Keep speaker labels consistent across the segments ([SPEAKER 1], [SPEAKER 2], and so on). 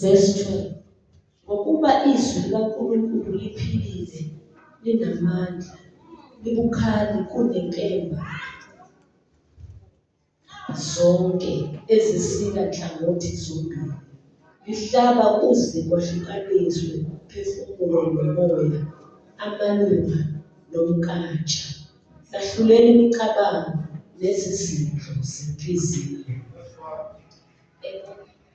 [SPEAKER 1] Verse 2 Ngokuba izwi likaNkulunkulu liphilile, linamandla, libukhali kunenkemba zonke ezisika nhlangothi zombili, lihlaba kuze kwahlukaniswe umphefumulo nomoya, amalunga nomnkantsha, lahlulele imicabango nezizindlo zenhliziyo.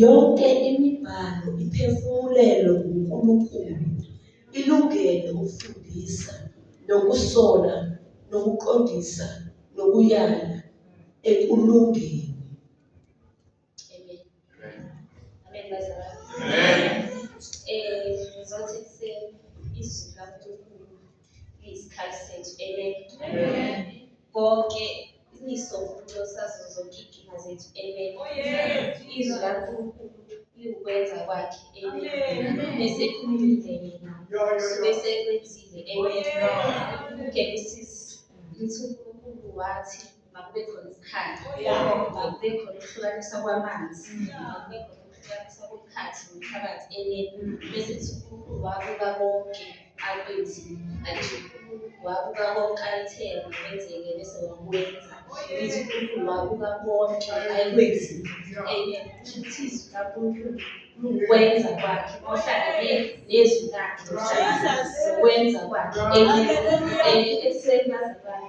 [SPEAKER 1] Yonke imibhalo iphefumulelwe nguNkulunkulu, ilungele ukufundisa, nokusola, nokuqondisa, nokuyala ekulungeni. Amen bazalwane. Amen. Eh ngizothi ekuseni izwi likaNkulunkulu liyisikhathi sethu. Amen. Amen. Konke iso losazo zonke inkinga zethu. Amen. Oh yes. Izwi likaNkulunkulu liwukwenza kwakhe. Amen. Bese khulumile yena. Yo yo yo. Bese kwenzile. Oh Amen. yes. Genesis lithi uNkulunkulu wathi makube khona isikhathi makube khona ukuhlukanisa kwamanzi makube khona ukuhlukanisa komkhathi nomphakathi ene bese kuthi unkulunkulu wabuka konke akwenzile alisho unkulunkulu wabuka konke ayithele kwenzeke bese wakwenza ngithi unkulunkulu wabuka konke ayikwenzile amen kusho ukuthi izwi lankulunkulu lukwenza kwakhe ohlangane nezwi lakhe lukwenza kwakhe ekuseni bazalwane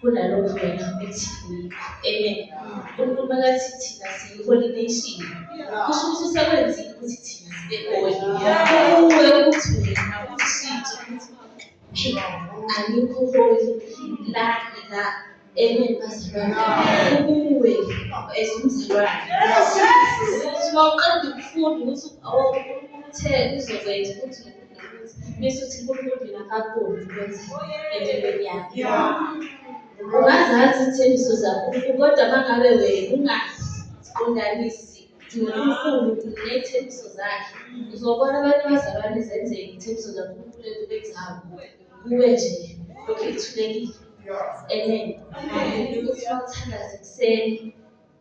[SPEAKER 1] kunalokho wena uthi amen unkulunkulu makathi thina siyiholi nation kusho ukuthi usekwenzile ukuthi thina sibe holi kuwe ukuthi wena ushintshe ukuthi alikho holi la la amen bazalwane kuwe as umzalwane uma uqeda ukufunda ukuthi utheni uzokwenza ukuthi Nisuthi uNkulunkulu mina akakuboni ukuthi empilweni yakhe. Ungazazi izithembiso zaNkulunkulu kodwa uma ngabe wena ungaziqondanisi noNkulunkulu ney'thembiso zakhe uzobona abantu abazalwane zenzeka iy'thembiso zaNkulunkulu ekubeni zawo kuwe nje lokhu ithulekile. Amen. Ukuthi bawuthandaze ekuseni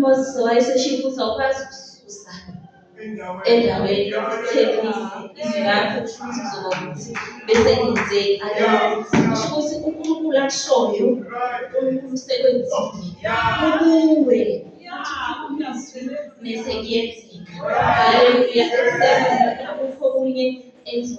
[SPEAKER 1] Moses wayeseshiya ukuthi awukwazi ukususa endaweni yokuthekisa izwi lakho kusho ukuthi kuzoba ukuthi bese ngenzeki kusho ukuthi unkulunkulu akushoyo unkulunkulu usekwenzile kukuwe mese kuyenzeka haleluya akukho kunye enzo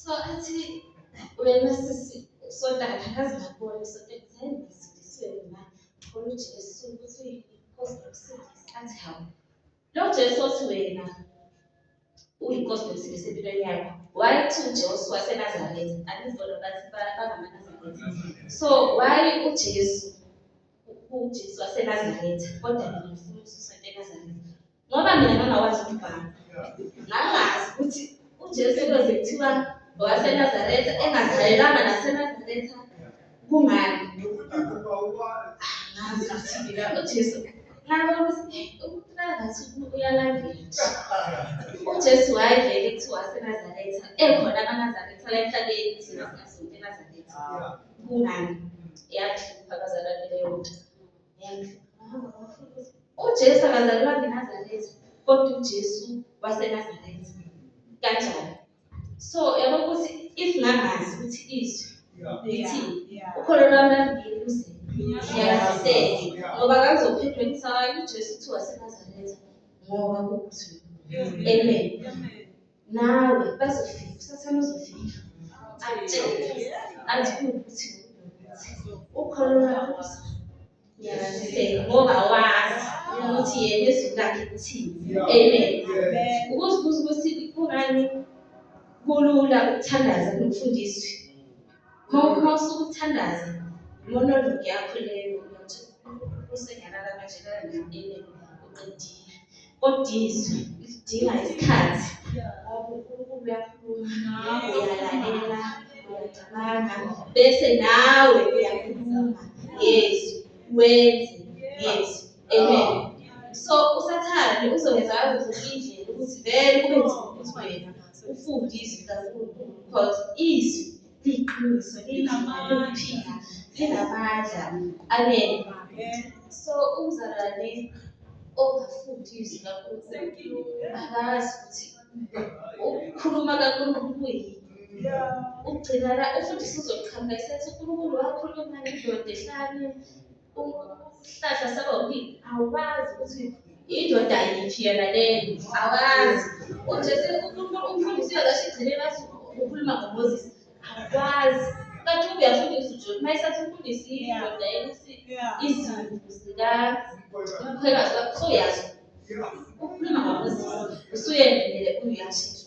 [SPEAKER 1] so athi wena sisi sonta akazi ngakubona sonta ekuzeni ngisindisiwe mina khona ujesu ukuthi inkosi nokusindisa athi hawu lo jesu othi wena uyinkosi nokusindisa empilweni yakho why to jesu wasenazaretha andizibona bathi bangamanazaretha so why ujesu ujesu wasenazaretha kodwa mina ngifuna ususa entenazaretha Ngoba mina ngangakwazi ukubhala. Ngangazi ukuthi uJesu eloze kuthiwa ngowaseNazaretha engazalelanga naseNazaretha kungani. Ngazi ukuthi mina uJesu ngabona ukuthi umuntu ngathi uyalandela nje. UJesu wayevele kuthiwa waseNazaretha ekhona amaNazaretha la emhlabeni thina singazi ukuthi eNazaretha kungani. Yahlupha abazalwane leyo nto. uJesu akazalwa ngeNazaretha kodwa uJesu waseNazaretha kanjani so yabo ukuthi if ngangazi ukuthi izwi lithini ukholo lwami lamngeni luze ngiyaziseke ngoba kakuzophendwa ngisakayo uJesu uthi waseNazaretha ngoba kukuthi amen nawe bazofika usathane uzofika akutshele athi ukuthi ukholo lwakho ngiyaziseka ngoba wazi ukuthi yena izwi lakhe kuthini amen ukuzibuza ukuthi kungani kulula ukuthandaza nokufundiswa Uma usukuthandaza lona ndoda yakho leyo uyathi usengalala manje kangamine uqedile. Kodwa izwi lidinga isikhathi ngoba uNkulunkulu uyakhuluma, uyalalela, uyacabanga bese nawe uyakhuluma ngezwi wenze ngezwi. Amen. So usathane uzongenza ngazo zonke indlela ukuthi vele kube nzima ukuthi wena ufunde izwi likaNkulunkulu because izwi liyiqiniso linamandla linamandla. Amen. So umzalwane ongafundi izwi likaNkulunkulu akazi ukuthi ukukhuluma kaNkulunkulu kuyini. Ugcina la ufundisa uzoqhamuka esethi uNkulunkulu wakhuluma nani ndoda ehlane Umhlahla saba ukuthi awazi ukuthi indoda yithi yena leyo awazi. Ujesu umfundisi uyakasho igcine bathi ukhuluma ngoMoses awazi. Kanti uyafundisa uJobe uma esathi umfundisi indoda yena ukuthi izimvu zika umkhwekazi wakho soyazi. Ukhuluma ngoMoses usuyendele uyashintsha.